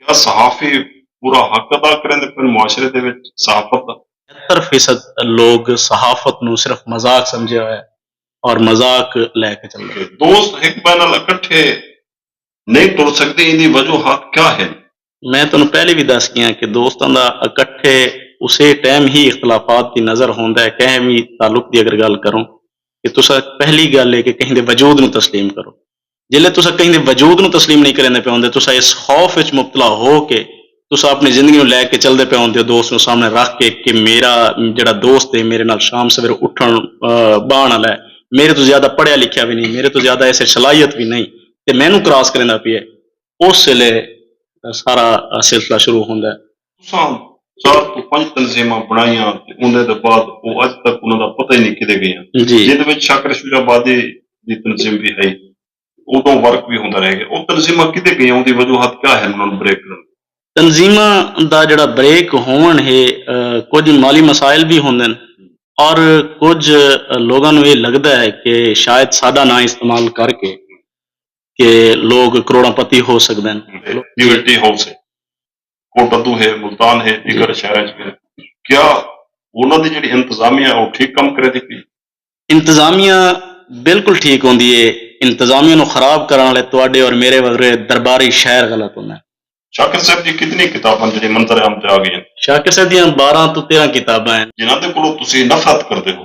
کیا صحافی پورا حق ادا کریندے پن معاشرے دے وچ صحافت دا؟ ستر فیصد لوگ صحافت نوں صرف مذاق سمجھیا ہویا ہے اور مذاق لے کے چلدے پن۔ دوست ہک بئے نال اکٹھے نئیں ٹر سگدے ایندی وجوہات کیا ہن؟ میں تہانوں پہلے وی دس گیاں کہ دوستاں دا اکٹھے اسے ٹائم ہی اختلافات دی نظر ہوندا ہے کہیں وی تعلق دی اگر گالھ کروں کہ تساں پہلی گالھ ہے کہ کہیں دے وجود نوں تسلیم کرو جیلے تساں کہیں دے وجود نوں تسلیم نئیں کریندے پئے ہوندے تساں اس خوف وچ مبتلا ہو کہ تساں اپݨی زندگی نوں لے کے چلدے پئے ہوندے ہو دوست نوں سامݨے رکھ کے کہ میݙا جیڑھا دوست ہے میݙے نال شام سویرے اٹھݨ ٻہݨ آلا ہے میݙے توں زیادہ پڑھیا لکھیا وی نئیں میݙے توں زیادہ اس وچ صلاحیت وی نئیں تے مینوں کراس کریندا پئے اس ویلے سارا سلسلہ شروع ہوندا ہے۔ تساں چار توں پنج تنظیماں بݨائیاں تے اوندے دے بعد او اڄ تک انہاں دا پتہ ای نی کدھے ڳئیاں جیندے وچ شاکر شجاع آبادی دی تنظیم وی ہئی تے اودوں ورک وی ہوندا رہ ڳیا او تنظیماں کدھے ڳئیاں اوندی وجوہات کیا ہن انہاں نوں بریک کرݨ دیاں؟ تنظیماں دا جیڑھا بریک ہووݨ ہے کجھ مالی مسائل وی ہوندن اور کجھ لوگاں نوں اے لڳدا ہے کہ شاید ساݙا ناں استعمال کر کے کہ لوگ کروڑاں پتی ہو سڳدن۔ لیبرٹی ہاؤس ہے کوٹدو ہے، ملتان ہے، دیگر شہراں اچ وی ہے، کیا انہاں دی جیڑھی انتظامیہ ہے او ٹھیک کم کریندی پئی ہے؟ انتظامیہ بالکل ٹھیک ہوندی ہے، انتظامیہ نوں خراب کرݨ آلے تہاݙے اور میݙے وڳرے درباری شاعر غلط ہوندن۔ شاکر صاحب دیاں کتنی کتاباں ہن جیڑھیاں منظر عام تے آ ڳئیاں ہن؟ شاکر صاحب دیاں بارہاں توں تیرھاں کتاباں ہن۔ جنہاں دے کولوں تسی نفرت کردے ہو؟